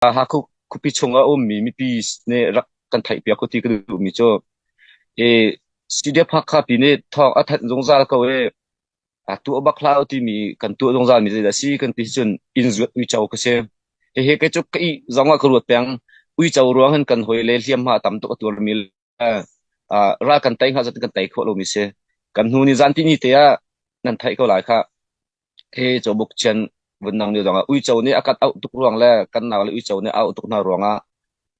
Hakha khuapi chung a ummi mipi nih rak kan theihpiak u ti ka duhmi cu CDF-Hakha pi nih thawng a thanh zungzal ko i tuah bak hlah u timi kan tuah zungzalmi zeidah a si kan ti cun inn zuat uico ka si. Hihi kei cu ka ih zong ah ka ruat peng. Uico ruang in kan hawi le hliamhma tam tuk a tuarmi ah ral kan tei hnga zat in kan tei khawh lomi si. Kan hnu ni zan tini te ah nan theih ko lai khah. Hi Cawbuk Cian vun nang ni zongah uico nih a kat auh tuk ruang le kan nau le uico nih auh tuk hna ruangah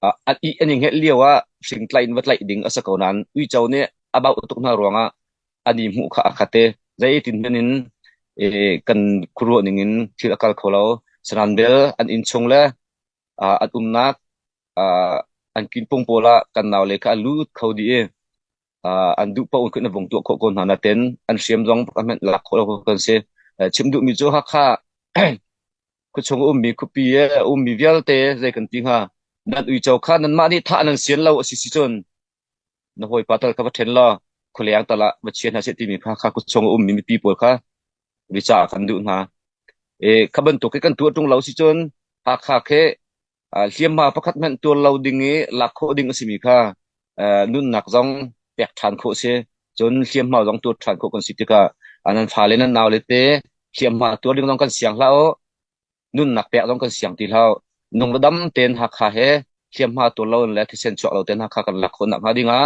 ah an i an i nget lio ah fing tlaih in va tlaih ding a si ko nain uico nih a bauh tuk hna ruangah an i hmuh kha a khat i zeitin hman in eh, kan khuaruah ning in thil a kal kho lo. Sanan bel an inn chung le ah, an umnak an kinpung pawl ah kan nau le kha a lut kho dih i an duh paoh in khin a vung tuah khawh ko hna nain an hriam zong a hmenh lak khawh lo kan si. Chim duhmi cu Hakha khuachung a ummi khuapi i a ummi vialte zei kan ti hnga, nan uico kha nanmah nih thah nan sian lo a si si cun Na hawipa tal kha va ṭhen law khualeng tal ah va chia hna seh timi kha kha kut chung a ummi mipi pawl kha rica ah khan duh hna. I kha bantuk i kan tuah ṭung lo si cun Hakha khi ah, hliamhma pakhat hmanh tuar lo ding i lak khawh ding a simi kha eh, nunnak zong pek ṭhan khawh a si. Cun hliamhma zong tuar ṭhan khawh kan si tikah ah nan fale nan naule te hliamhma tuar ding zong kan siang hlah u. nunnak pek zong kan siang ti hlah. Nung le dam tein Hakha he hliamhma tur lo le thisen chuak lo tein Hakha kan lak khawnak hnga dingah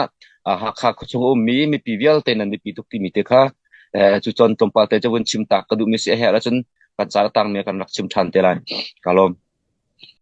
ah Hakha khuachung a ummi mipi vialte nan mipi tuk timi te kha eh, cu cun tlawmpal te cun chim tak ka duhmi si a herh ahcun kan car tangmi kan rak chim ṭhan te lai. Ka lawm.